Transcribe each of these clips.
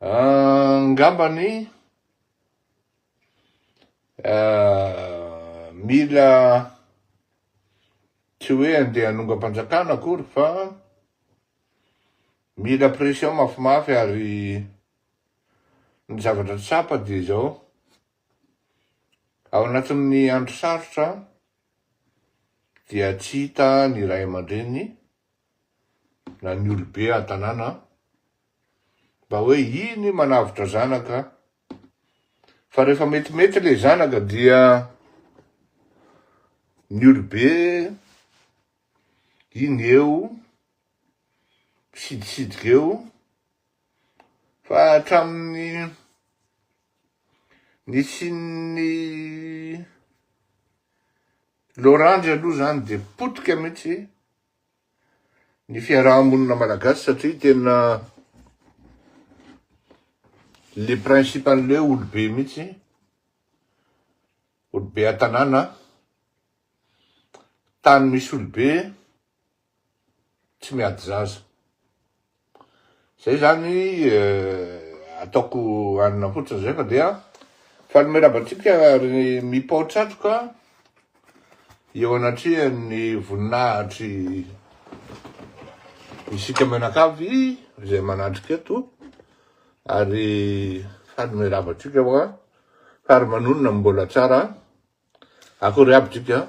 Angambany mila tsy hoe handeha hanongam-panjakana akory fa mila pression mafimafy ary ny zavatra tsapa dia izao, ao anatin'ny andro sarotra dia tsy hita ny ray aman-dreniny. na ny olobe an-tanàna an, mba hoe iny manavotra zanaka an, fa rehefa metimety ilay zanaka dia ny olobe iny eo, misidisidika eo, Fa hatramin'ny nisian'ny loranjy aloha izany dia potika mihitsy ny fiaraha-monina malagasy satria tena le principe an'ilay hoe olobe mihitsy, olobe an-tanàna, tany misy olobe, tsy miady zaza. Zay zany ataoko hanina fotsiny zay fa dia faly miraba antsika ry mipao tratroka eo anatrehan'ny voninahitry isika mianakavy izay manatrika eto ary faly miraba antsika fa ary manonona mbola tsara akory aby tsika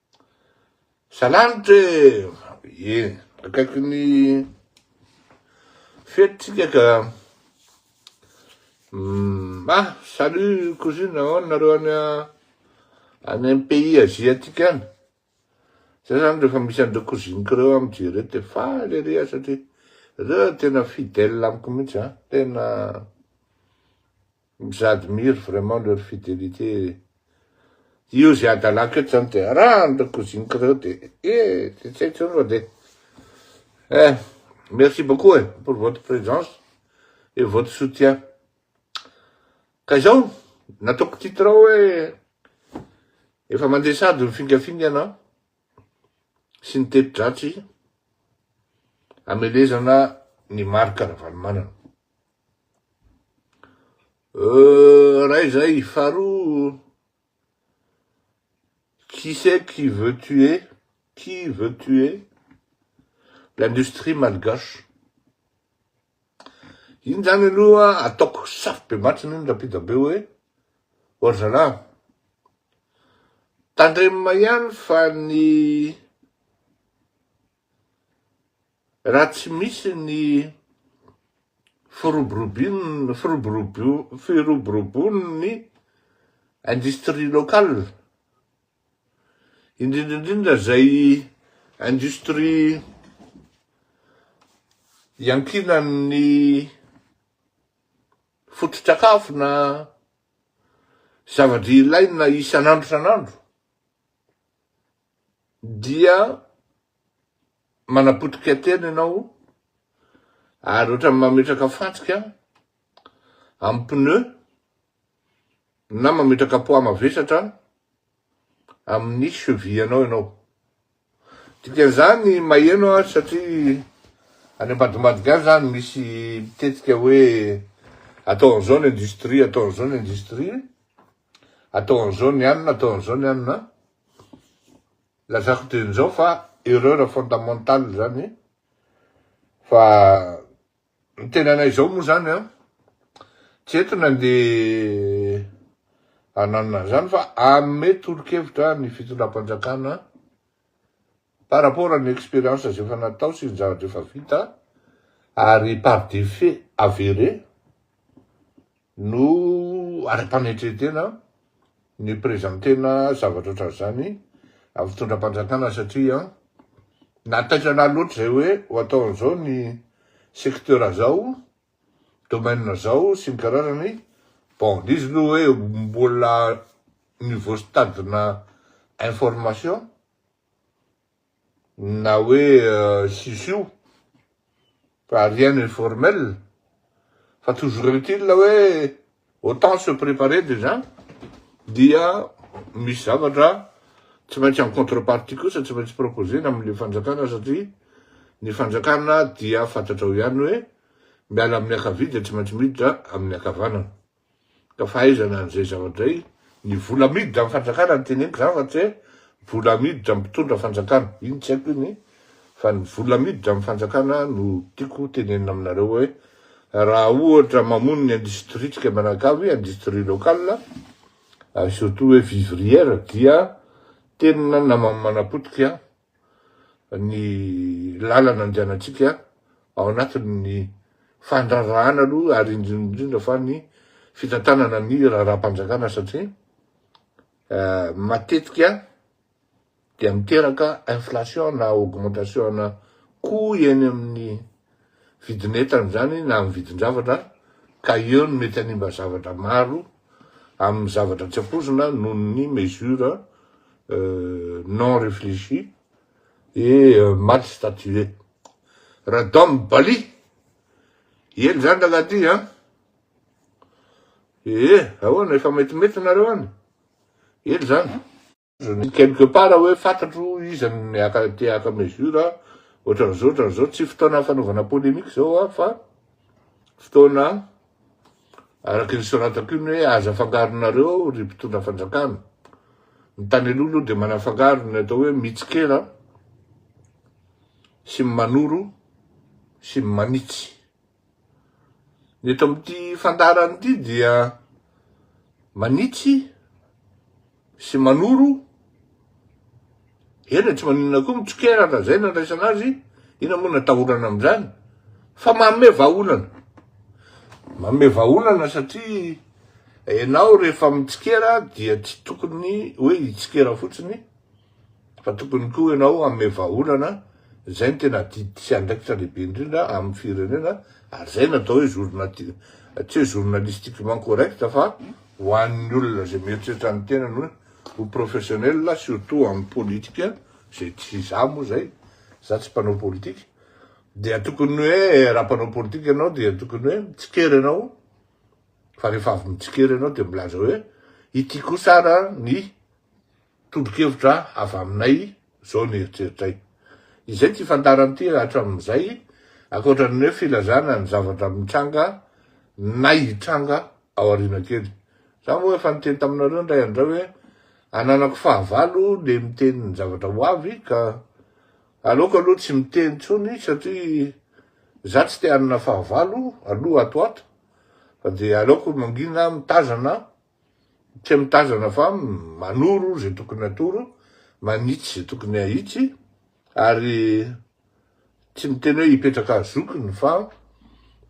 Salanitra e! Ie, akaiky ny fety tsika ka. Ah, salut cousine, ahoana nareo any any am pays asiatique any? Zay zany refa misy an'ireo cousiniko reo aho mijery eo de faly ery aho satria reo tena fidèle amiko mintsy an, tena. J'admire vraiment leur fidelite e! Io ze adalako eto zany de araha an'ireo cousiniko reo de e! de tsy haiko zany fa de eh! merci beaucoup e! pour votre presence et votre soutien. Ka izao nataoko titre ao hoe efa mandeha sahady ny fingafingana sy ny teti-dratsy hamelezana ny Marc Ravalomanana. Ray zay, faharoa qui c'est qui veut tuer, qui veut tuer l'industrie malgache? Iny zany aloha ataoko safo be matsiny iny rapida be hoe oh zalahy tandremina ihany fa ny Raha tsy misy ny firoborobon'ny industrie locale, indrindra indrindra izay industrie iankinan'ny fototsakafo na zava-drehetra ilaina isan'andro isan'andro dia Manapotika tena ianao ary ohatran'ny mametraka fantsika amin'ny pneu na mametraka poids mavesatra amin'ny cheville-anao ianao. Dikan'izany maheno aho satria any ambadimbadika any izany misy mitetika hoe atao an'izao ny industrie, atao an'izao ny industrie, atao an'izao ny anona, atao an'izao ny anona. Lazako dieny zao fa erreur fondamentale zany fa ny tenanay zao moa zany an tsy eto nandeha hananona an'izany fa hanome tolo-kevitra ny fitondram-panjakana par rapport an'ny expérience zay efa natao sy ny zavatra efa vita ary par des faits avérés No arim-panetren-tena ny prezan-tena zavatra ohatran'izany amin'ny fitondram-panjakana satria na taitra na loatra izay hoe ho ataon'izao ny secteur izao, domaine izao sy ny karazany, bon le izy aloha hoe mbola niveau stade-na information na hoe sisio fa rien n'est formel fa toujours est il hoe autant se préparer déjà dia misy zavatra tsy maintsy en contrepartie kosa tsy maintsy proposer-na amin'ilay fanjakana satria ny fanjakana dia fantatrao ihany hoe miala amin'ny ankavia dia tsy maintsy miditra amin'ny ankavanana. Ka fa aiza na an'izay zavatra izay? Ny vola amidy amin'ny fanjakana no teneniko izany fa tsy hoe vola amidy amin'ny mpitondra fanjakana, iny tsy haiko iny, fa ny vola amidy amin'ny fanjakana no tiako tenenina aminareo hoe raha ohatra mamono ny industrie-tsika mianakavy, industrie locale, ary surtout hoe vivrière dia tena namany manapotika. ny lalana andehanantsika ao anatin'ny fandraharahana aloha ary indrindra indrindra fa ny fitantanana ny raharaham-panjakana satria matetika dia miteraka inflation na augmentation-na coût eny amin'ny vidin'entana izany na amin'ny vidin-javatra ka eo no mety hanimba zavatra maro amin'ny zavatra tsy ampoizina noho ny mesure non reflechi et mal statue. Radom Bali! Ela izany rangahy ty an! Ee, ahoana, efa metimety nareo any? Ela izany. Je lis quelque part hoe fantatro iza no niaka te haka mesure, ohatran'izao ohatran'izao, tsy fotoana fanaovana polemique zao an, fa fotoana araky ny soratako iny hoe aza afangaronareo ry mpitondra fanjakana. Ny tany aloha aloha dia manafangaro ny atao hoe mitsikera sy ny manoro sy ny manitsy. Ny eto amin'ity fandaharana ity dia manitsy sy manoro eny tsy maninona koa mitsokerana zay nandraisana azy ina moa natahorana amin'izany fa manome vahaolana manome vahaolana satria ianao rehefa mitsikera dia tsy tokony hoe hitsikera fotsiny fa tokony koa ianao hanome vahaolana izay no tena adidy sy andraikitra lehibe indrindra amin'ny firenena ary izay no atao hoe journati- tsy hoe journalistiquement correct fa ho an'ny olona izay mieritreritra ny tenany hoe ho professionnel surtout amin'ny politika izay tsy izaho moa izay izaho tsy mpanao politika dia tokony hoe raha mpanao politika ianao dia tokony hoe mitsikera ianao fa rehefa avy mitsikera ianao dia milaza hoe ity kosa ara ny Tobokevitra avy aminay izao ny eritreritray. Izay ity fandarana ity raha hatramin'izay, ankoatra ny hoe filazana ny zavatra mitranga na hitranga ao aoriana kely. Za moa efa niteny taminareo indray andray hoe ananako fahavalo le miteny ny zavatra ho avy ka aleoko aloha tsy miteny intsony satria za tsy te hanana fahavalo aloha ato ho ato fa dia aleoko mangina mitazana Tsy mitazana fa manoro izay tokony atoro, manitsy izay tokony ahitsy ary tsy miteny hoe hipetraka zokiny fa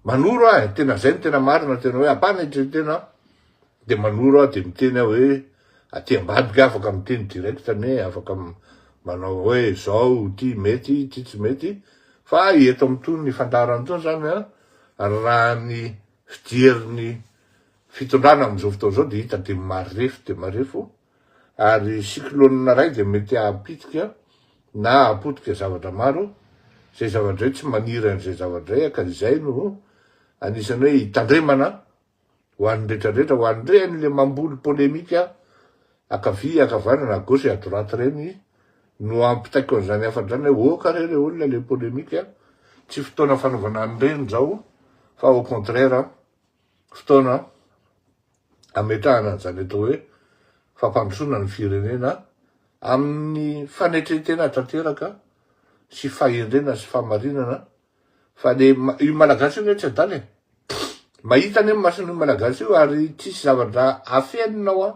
manoro aho e, tena izay no tena marina, tena hoe ampanetren-tena aho dia manoro aho dia miteny aho hoe aty ambadika aho afaka miteny direct anie, afaka manao hoe izao, ity mety, ity tsy mety fa eto amin'itony fandaharana itony izany an, raha ny. fijerin'ny fitondrana amin'izao fotoana izao dia hita dia marefo dia marefo ary cyclone iray dia mety hahapitika na hahapotika zavatra maro izay zavatra izay tsy maniry an'izay zavatra izay ka izay no anisan'ny hoe hitandremana ho an'ny rehetra rehetra ho an'ireny le mamboly polemika ankavia, ankavanana, à gauche et à droite reny no ampitaiko an'izany afadrana hoe oh kare le olona le polemique a! tsy fotoana fanaovana an'ireny izao fa au contraire fotoana ametrahana an'izany atao hoe fampandrosoana ny firenena amin'ny fanetren-tena tanteraka sy fahendrena sy famarinana Fa le io malagasy io anie tsy adala e. Mahita anie mason'io malagasy io ary tsisy zavatra afenina hoa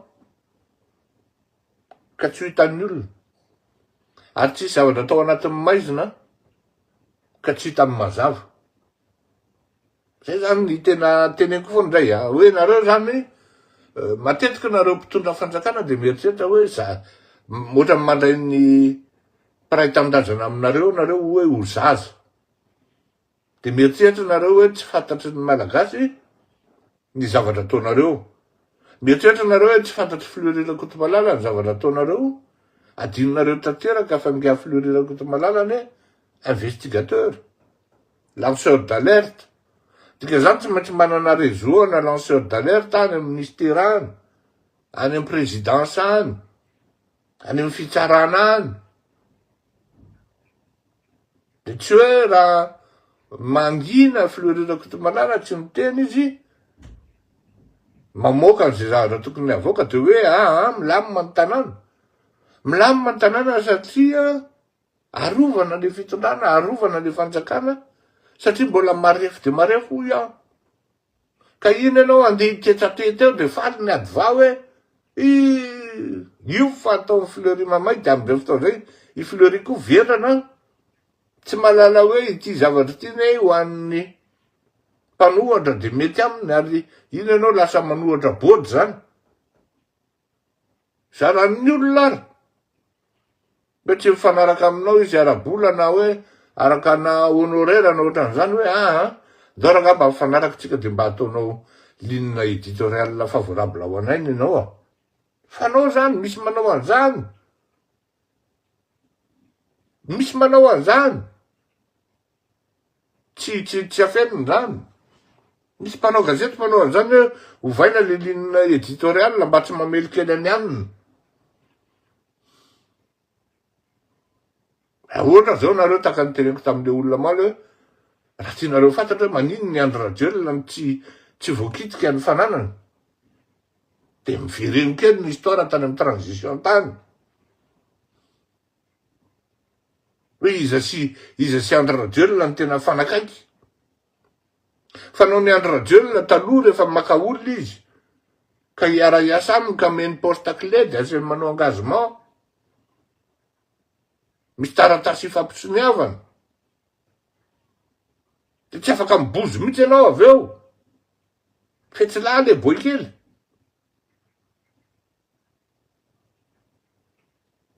ka tsy ho hitan'ny olona. Ary tsisy zavatra atao anatin'ny maizina ka tsy hitan'ny mazava. Zay zany ny tena teneniko foana indray a. Hoe nareo zany matetika nareo mpitondra fanjakana de mieritreritra hoe za ohatran'ny mandray ny Mpiray tanindrazana aminareo nareo oe ho zaza de mieritreritra nareo oe tsy fantatry ny malagasy ny zavatra ataonareo mieritreritra nareo oe tsy fantatry Fleuri Rakotomalala ny zavatra ataonareo adinonareo tanteraka fa nga Fleuri Rakotomalala anie investigateur lanceur d'alerte dikazany tsy maintsy manana reseau ana lanceur d'alerte any am ministera any any am presidence any any amin'ny fitsarana any dia tsy hoe raha mangina filoha Hery Rakotomanana tsy miteny izy mamoaka an'izay zavatra tokony havoaka dia hoe aa milamina ny tanàna milamina ny tanàna satria arovana le fitondrana arovana le fanjakana satria mbola marefo dia marefo hoy aho Ka iny ianao handeha hiketsatety eo dia faly ny adva hoe ih! io fa ataon'i Fleury mamay dia amin'izay fotoana izay i Fleury koa vendrana an! Tsy mahalala hoe ity zavatra ity anie ho an'ny mpanohatra dia mety aminy ary iny ianao lasa manohatra board izany. Zaran'ny olona ary. Mba tsy mifanaraka aminao izy ara-bola na hoe araka na honoraire na ohatran'izany hoe aa, ndao rangah mba mifanaraka tsika dia mba ataonao ligne editoriale favorable ho anay ny anao a. Fanao izany, misy manao an'izany. Misy manao an'izany, tsy tsy tsy afenina izany. Misy mpanao gazety manao an'izany hoe ovaina le ligne editoriale mba tsy mamelokely an'i anona. Ahoana zao nareo taka nitereniko tamle olona omaly hoe raha tianareo ho fantatra hoe maninona i Andry Rajoelina no tsy tsy voakitika ny fananany Dia mivereno kely ny histoire tany amin'ny transition tany. Hoe iza sy iza sy Andry Rajoelina no tena fanakaiky. Fa noho ny Andry Rajoelina taloha rehefa maka olona izy ka hiara-hiasa aminy ka omeny poste clé dia asehony manao engagement. Misy taratasy ifampitsoniavana. Dia tsy afaka mibozo mihitsy ianao avy eo. Fetsy lahy le boy kely.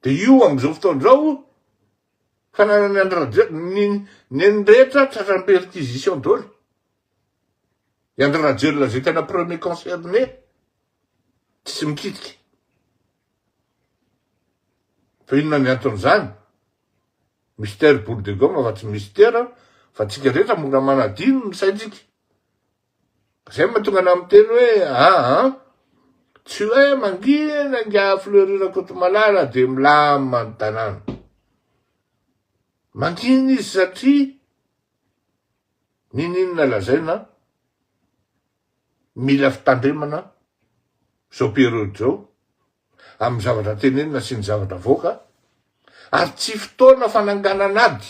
De io amzao fotoana zao fananany Andry Rajoelina ny neny rehetra tratran'ny perquisition dolo. I Andry Rajoelina zay tena premier concerné tsisy mikitika. Fa inona ny anton'izany? Mister boule de gomme fa tsy Mister fa tsika rehetra mora manadino ny saintsika. Zay mahatonga anao miteny hoe aa tsy hoe mangina ingahy Fleury Rakotomalala dia milamina ny tanàna. Mangina izy satria niniana lazaina mila fitandremana izao periody izao amin'ny zavatra tenenina sy ny zavatra avoaka ary tsy fotoana fananganana ady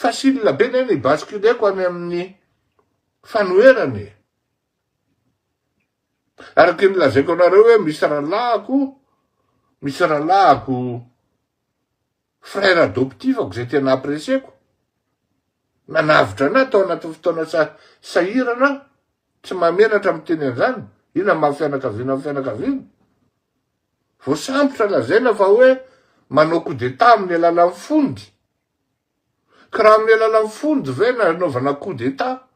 Facile be ny basculer-ko any amin'ny fanoherana e! Araka ny lazaiko anareo hoe misy rahalahiko, misy rahalahiko frère adoptif-ko izay tena apprecier-ko, nanavotra an'ahy tao anatin'ny fotoana sahirana aho, tsy mahamenatra miteny an'izany, io na maha fianakaviana amin'ny fianakaviana. voasambotra lazaina fa hoe manao coup d'Etat amin'ny alalan'ny fondy. Ka raha amin'ny alalan'ny fondy ve no anaovana coup d'Etat,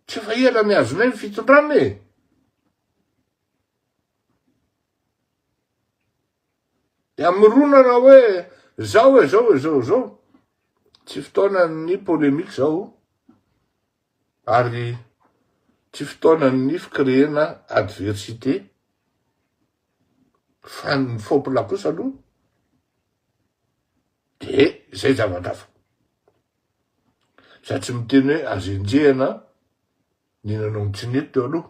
tsy efa ela nihazonay ny fitondrana e! Dia hamoronana hoe zao e, zao e, zao e, zao. Tsy fotoanan'ny polemique zao. Ary tsy fotoanan ny fkreena adversite fa ny fopla kosa aloha de zay zavatra hafa. Za tsy miteny hoe azo enjehina ny nanao ny tsy nety teo aloha.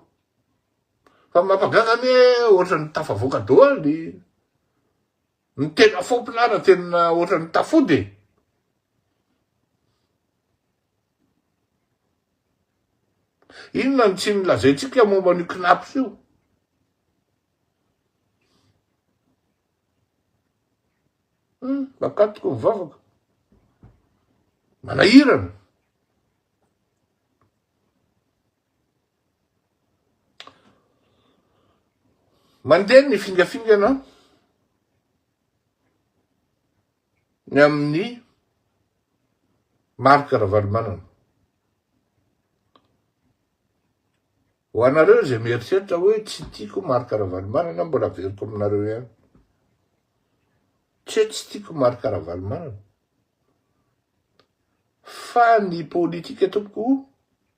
Fa mampagaga anie ohatran'ny tafavoaka doaly. Ny tena fopla ara tena otrany tafody e. Inona no tsy nolazaintsika momba an'io Cnaps io? Hmm, bakatiko ny vavaka. Manahirana. Mandeha ny fingafingana ny amin'ny Marc Ravalomanana. Ho anareo izay mieritreritra hoe tsy tiako Marc Ravalomanana, mbola averiko aminareo ihany. Tsy hoe tsy tiako Marc Ravalomanana. Fa ny politika tompoko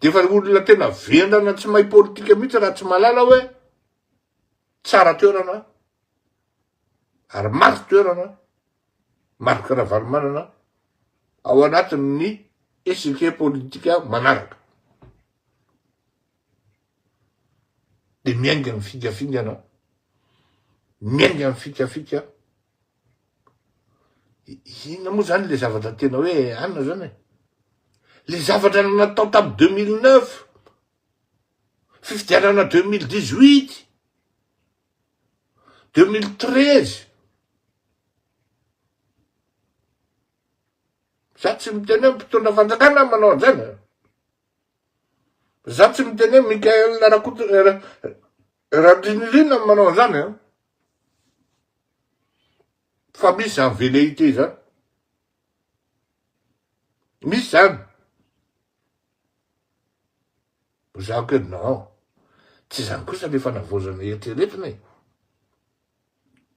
Dia efa olona tena vendrana tsy mahay politika mihitsy Ratsimalala hoe tsara toerana ary maty toerana Marc Ravalomanana ao anatin'ny échiquier politika manaraka. Dia miainga ny fingafingana, miainga ny fikafika, Inona moa zany le zavatra tena hoe anona zany e? Le zavatra natao tamin'ny 2009, fifidianana 2018, 2013, za tsy miteny hoe mpitondra fanjakana manao an'izany, za tsy miteny hoe Michael Rakoto Randrinirina manao an'izany an. Fa misy zany velléité zany. Misy zany. Za koa non. Tsy zany kosa le fanavaozana eritreretina e.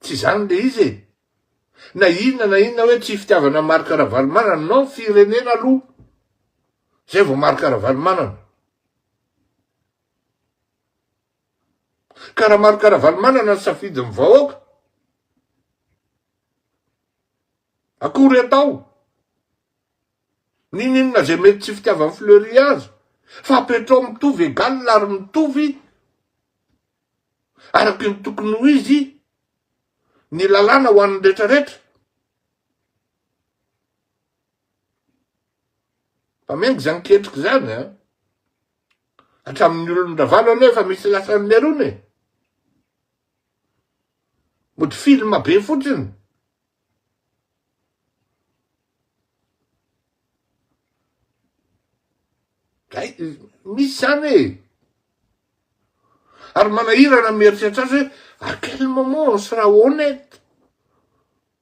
Tsy zany le izy e. Na inona na inona hoe tsy fitiavana an'i Marc Ravalomanana, non firenena aloha. Zay vao Marc Ravalomanana. Karamarka Ravalomanana ny safidin'ny vahoaka. Akory atao. Ninoninona izay mety tsy fitiavan'i Fleury azy. Fa apetrao mitovy egal ary mitovy araky ny tokony ho izy ny lalàna ho an'ny rehetra rehetra. Fa miainga izany ketrika izany an. Hatramin'ny olon-dRavalo anie efa misy lasan'ny Merona e! Mody film be fotsiny. Zay, misy zany e! Ary manahirana mieritreritra azy hoe à quel moment on sera honnête?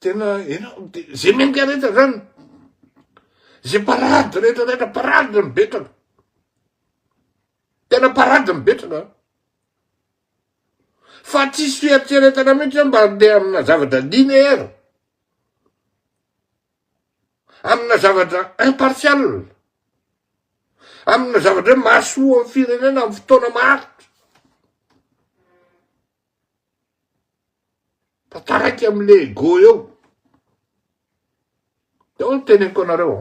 tena enao de zay mendrika rehetra zany zay parady rehetra rehetra parady mibetraka tena parady mibetraka fa tsisy fieritreretana mihitsy mba andeha amina zavatra linéaire amina zavatra impartial, amina zavatra hoe mahasoa amin'ny firenena amin'ny fotoana maharitra, fa taraiky amin'le ego eo. Dia hoy ny teneniko anareo,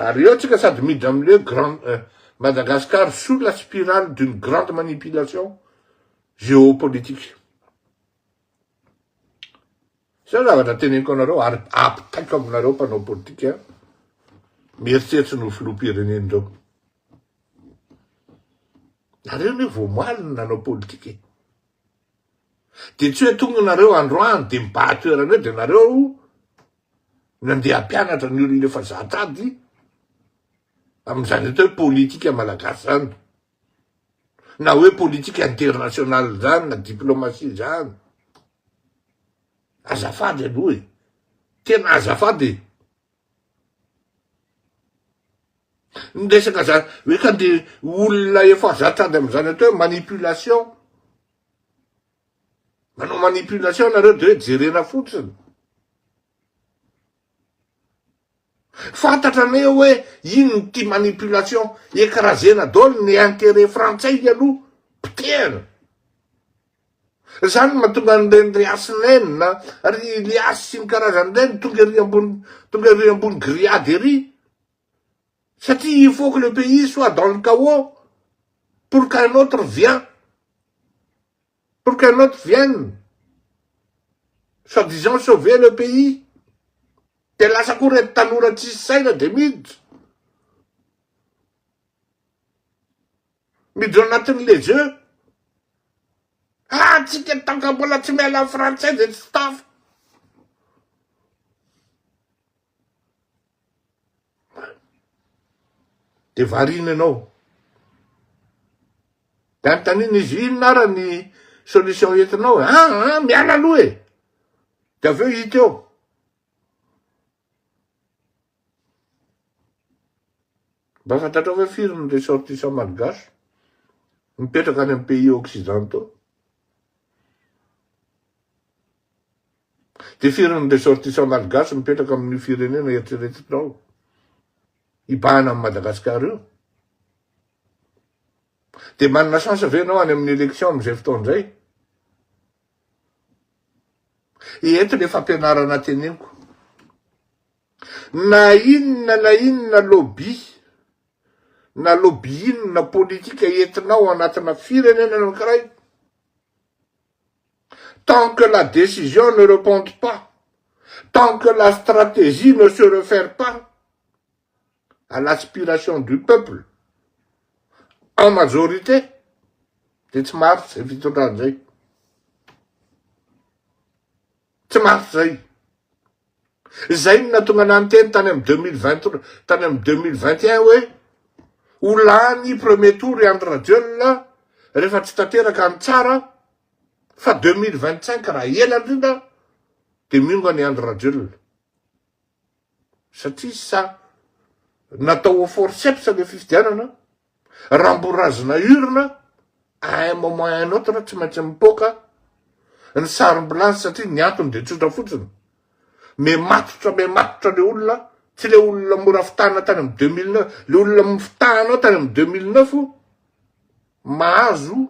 ary eo tsika sady miditra amin'le grand euh, Madagascar sous la spirale d'une grande manipulation géopolitique. Zay ny zavatra teneniko anareo ary apitaiko aminareo mpanao politika mieritreritra ny ho filoham-pirenena ireo. Nareo anie vao omaly no nanao politika e. Dia tsy hoe tonga nareo androany dia mibaha toerana eo dia nareo nandeha hampianatra ny olona efa zatra ady amin'izany atao hoe politika malagasy izany. na hoe politique internationale zany na diplomatie zany, azafady aloha e, tena azafady e, ny resaka zany hoe ka nde olona efa zatra any amizany atao hoe manipulation, manao manipulation nareo de hoe jerena fotsiny, Fantatra ne hoe ino ity manipulation, ekrazena daholo ny interet frantsay ialoha potehana. Zany no mahatonga an'ireny ry Hasinaine ry Iliasy sy ny karazany ireny tonga ery ambony tonga ery ambony grillade ery satria il faut que le pays soit dans le chaos pour qu'un autre vient Pour qu'un autre vienne soit disant sauver le pays dia lasa koa ireto tanora tsisy saina dia miditra miditra anatin'ny les jeux ah tsika tant que mbola tsy miala amin'ny frantsay dia tsy tafa. de variana ianao de anontaniana izy inona ara ny solution entinao e ah ah miala aloha e de avy eo hita eo mba fantatrao ve firy ny ressortissant malgache mipetraka any amin'ny pays occidentaux Dia firy ny ressortissants malgaches mipetraka amin'io firenena eritreretinao hibahana amin'i Madagasikara io? Dia manana chance ve ianao any amin'ny élection amin'izay fotoana izay? Eto ilay fampianarana teneniko. Na inona na inona lobby, na lobby inona politika entinao anatina firenena anankiray, Tant que la décision ne reponte pas, tant que la stratégie ne se refère pas à l'aspiration du peuple en majorité dia tsy maharitra izay fitondrana izay. Tsy maharitra izay. Izay no nahatonga anah niteny tany amin'ny deux mille vingt, tany amin'ny deux mille vingt et un hoe ho lany premier tour i Andry Rajoelina rehefa tsy tanteraka ny tsara, Fa deux mille vingt cinq raha ela indrindra dia miongana i Andry Rajoelina. Satria sa natao au forceps le fifidianana, raha mbo razina urne à un moment à un autre tsy maintsy mipoaka ny sarimbilazy satria ny antony dia tsotra fotsiny, mematotra mematotra le olona, tsy le olona mora fitahana tany amin'ny deux mille neuf, le olona fitahanao tany amin'ny deux mille neuf mahazo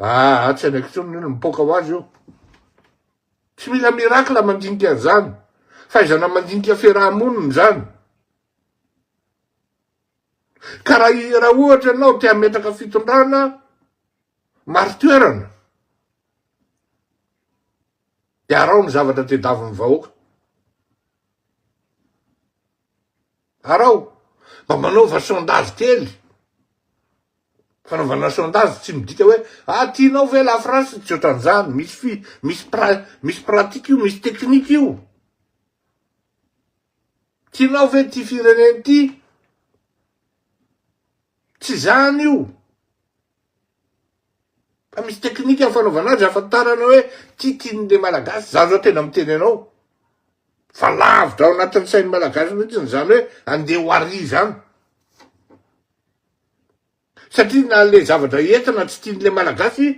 Aa tsy anaiky intsony ny olona, mipoaka ho azy io. Tsy mila miracle mandinika an'izany. Fahaizana mandinika fiaraha-monina izany. Ka raha raha ohatra ianao te hametraka fitondrana, mari-toerana, dia araho ny zavatra tedavon'ny vahoaka. Araho, mba manaova sondage kely. Fanaovana sondage tsy midika hoe ah tianao ve la France tsy ohatran'izany, misy fi, misy pra, misy pratique io, misy technique io. Tianao ve ity firenena ity? Tsy izany io. Fa misy teknika ny fanaovana azy ahafantarana hoe titin'ny le malagasy, za zao tena miteny anao fa lavitra ao anatin'ny sain'ny malagasy mihitsy ny zany hoe andeha ho ary zany. Satria na le zavatra entina tsy tian'le malagasy,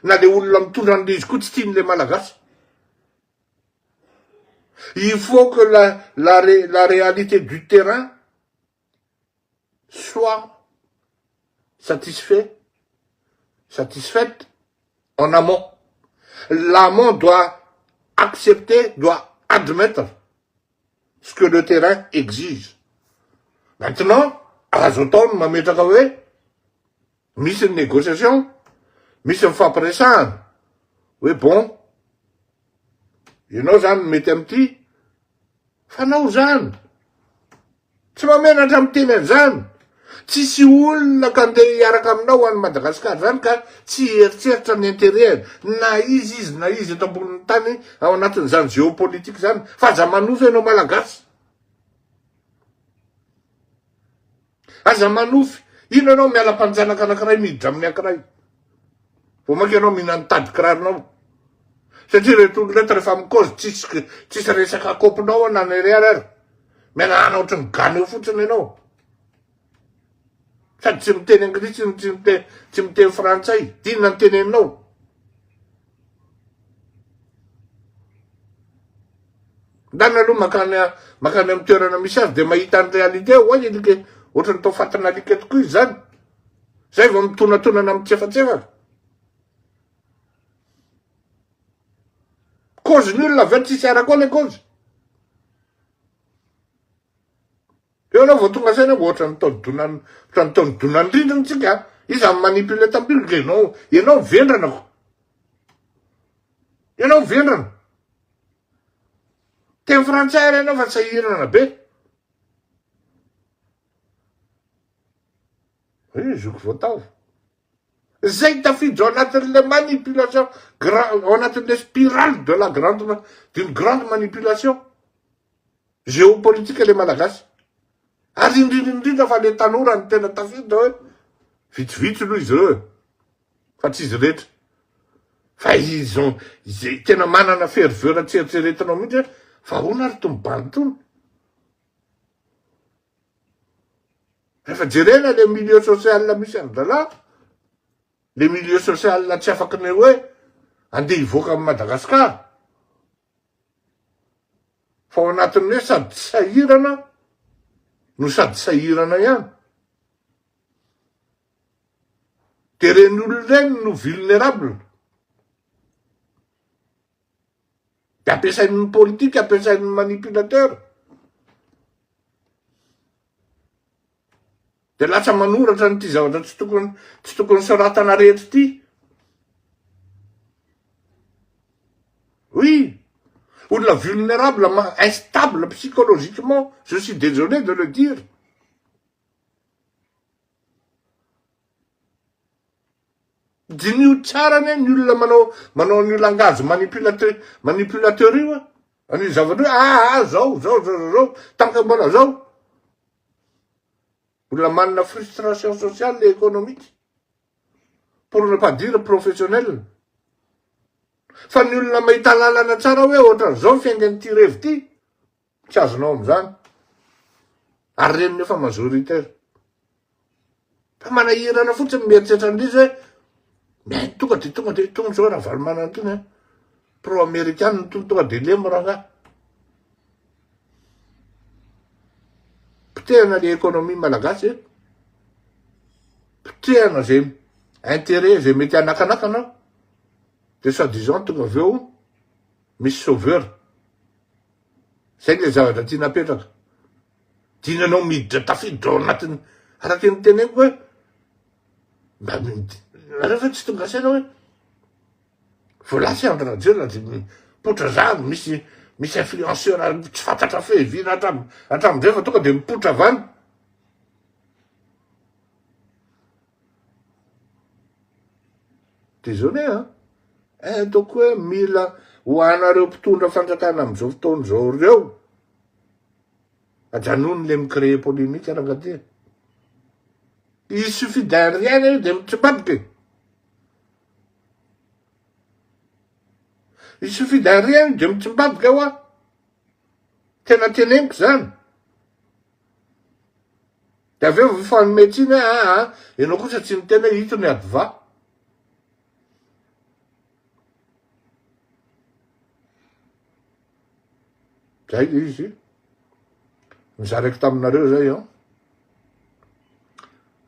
na le olona mitondra an'le izy koa tsy tian'le malagasy. Il faut que la, la, la réalité du terrain soit satisfait, satisfaite en amont. L'amont doit accepter, doit admettre ce que le terrain exige. Maintenant, azo atao ny mametraka hoe misy ny négociation, misy ny fampiresahana, hoe bon, ianao zany mety amin'ity, fanao zany. Tsy mahamenatra miteny an'izany. Tsisy olona ka ndeha hiaraka aminao any Madagascar zany ka tsy hieritreritra ny interet-ny na iza izy na iza eto ambonin'ny tany ao anatin'izany géopolitique zany fa aza manova ianao Malagasy. Aza manofy. Ino ianao miala mpanjanaka anankiray miditra amin'ny ankiray. Vao maika ianao mihina ny tadin-kiraronao. Satria ireto olona ireto rehefa mikaozy tsisy tsisy resaka kopinao na ny ariary ary. Mianahana ohatry ny gana eo fotsiny ianao. Sady tsy miteny anglisy, tsy miteny, tsy miteny frantsay. Inona ny teneninao? Ndana aloha makany makany amin'ny toerana misy azy dia mahita ny réalité ho'a i alika e. Ohatran'ny tao fatana alika tokoa izy zany. Zay vao mitonatonana mitsefatsefaka. Cause ny olona avy eo tsisy arako le cause. Eo ianao vao tonga saina vao ohatran'ny tao donan'ny ohatran'ny tao donan'ny rindrina tsika. Iza no manipule tampilo dia ianao ianao ny vendrana ko. Ianao ny vendrana. Teny frantsay ary ianao fa sahirana be. Io zoky vao taova. Zay tafiditra ao anatin'ilay manipulation grand ao anatin'ilay spirale de la grande d'une grande manipulation. Géopolitique le malagasy. Ary indrindra indrindra fa le tanora no tena tafiditra hoe vitsivitsy aloha izy ireo e. Fa tsy izy rehetra. Fa ils ont izay tena manana ferveur tsy eritreretinao mihitsy hoe fa ahoana ary tony bandy tony. Rehefa jerena le milieu social misy an dralahy, le milieu social tsy afaky ny hoe andeha hivoaka amin'i Madagascar. Fa ao anatin'ny hoe sady sahirana no sady sahirana ihany. Dia ireny olona ireny no vulnerable. Dia ampiasain'ny politika, ampiasain'ny manipulateur. Dia lasa manoratra an'ity zavatra tsy tokony tsy tokony soratana rehetra ity. Oui. Olona vulnérable, instable psychologiquement, je suis désolé de le dire. Diniho tsara ne ny olona manao manao an'io langage manipulateur manipulateur io, an'io zavatra io, ah ah zao zao zao zao zao, tanka mbola zao. Mbola manana frustration sociale et économique pour ne pas dire professionnelle. Fa ny olona mahita lalana tsara hoe ohatran'izao ny fiaingan'ity revy ity, tsy azonao amin'izany. Ary reniny efa majoritaire. Fa manahirana fotsiny mieritreritra an'ilay izy hoe mety tonga dia tonga dia tonga izao Ravalomanana itony an. Pro amerikana itony tonga dia lemo rangahy. Potehana ilay économie malagasy e. Potehana izay intérêt izay mety hanakanakana dia soit disant tonga avy eo misy sauveur. Izay ilay zavatra tiana apetraka. Tiany anao miditra tafiditra ao anatiny araka ny teneniko hoe mba nareo ve tsy tonga saina hoe voalaza Andry Rajoelina dia mipoitra zandry misy misy influenceur tsy fantatra fehivina hatram hatramizay fa tonga dia mipoitra avy any désolé a eh, ataoko hoe mila ho anareo mpitondra fanjakana amin'izao fotoana izao ireo Ajanony le mi-créer polemique rangadia. Il suffit d'un rien io de mitribaboka e. Il suffit d'un rien io de mitribaboka wa. Tena teneniko zany. De avy eo mifanome tsiny hoe aa ah, ah, ianao kosa tsy niteny hoe ito ny adva. Zay le izy. Nizaraiko taminareo zay an.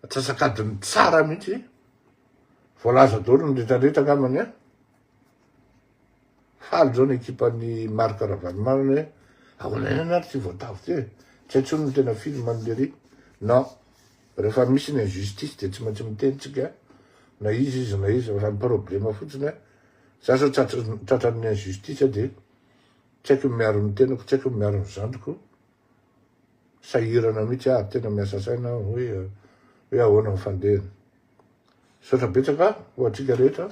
Atsasakadiny tsara mihitsy. Voalaza daholo ny retraretra angambany an. Faly zao ny ekipan'ny Marc Ravalomanana hoe ahoana ihany ary tsy voatavo ty e. Tsy hay tsony ny tena film an'i Lery. Non. Rehefa misy ny injustice dia tsy maintsy miteny tsika na iza izy na iza. Raha ny problema fotsiny an, Za zao tratran'ny injustice de tsy haiko ny miaro ny tenako, tsy haiko ny miaro ny zandriko, sahirana mihitsy aho, tena miasa saina aho hoe hoe ahoana ny fandehany. Misaotra betsaka ho antsika rehetra.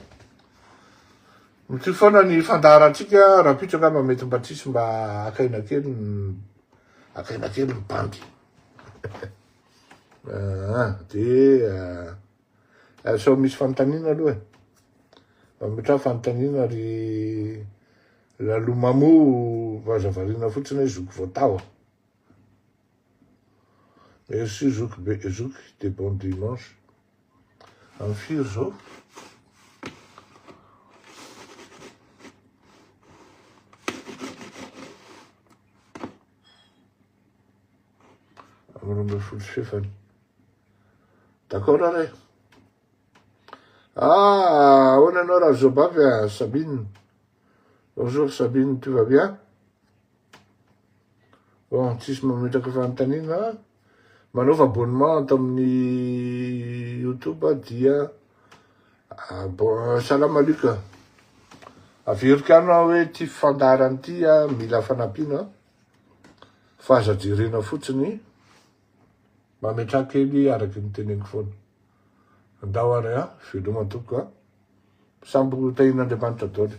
Mitohy foana ny fandaharantsika, rahampitso angamba mety mba tsisy mba akaina kely akaina kely ny bandy. Ah, dia Ary sao misy fanontaniana aloha e. Mba mitraha fanontaniana ry Lalo Mamo vaza variana fotsiny hoe zoky voataho. Merci zoky be zoky de bon dimanche. Am firy zao? roa ambin'ny folo sy fahefany. D'accord ary e. Ah, ahoana ianao raha Zobavy a Sabine? Bonjour Sabine, tu vas bien? Bon, tsisy mametraka fanontaniana. Manaova abonnement ato amin'ny YouTube dia ah, bon, salam alaikum. Averiko anao hoe ity fandaharana ity mila fanampiana. Fa aza jerena fotsiny, mametraha kely araky ny teneniko foana. Andao ary an, veloma tompoko an. Sambo tahian'Andriamanitra daholo.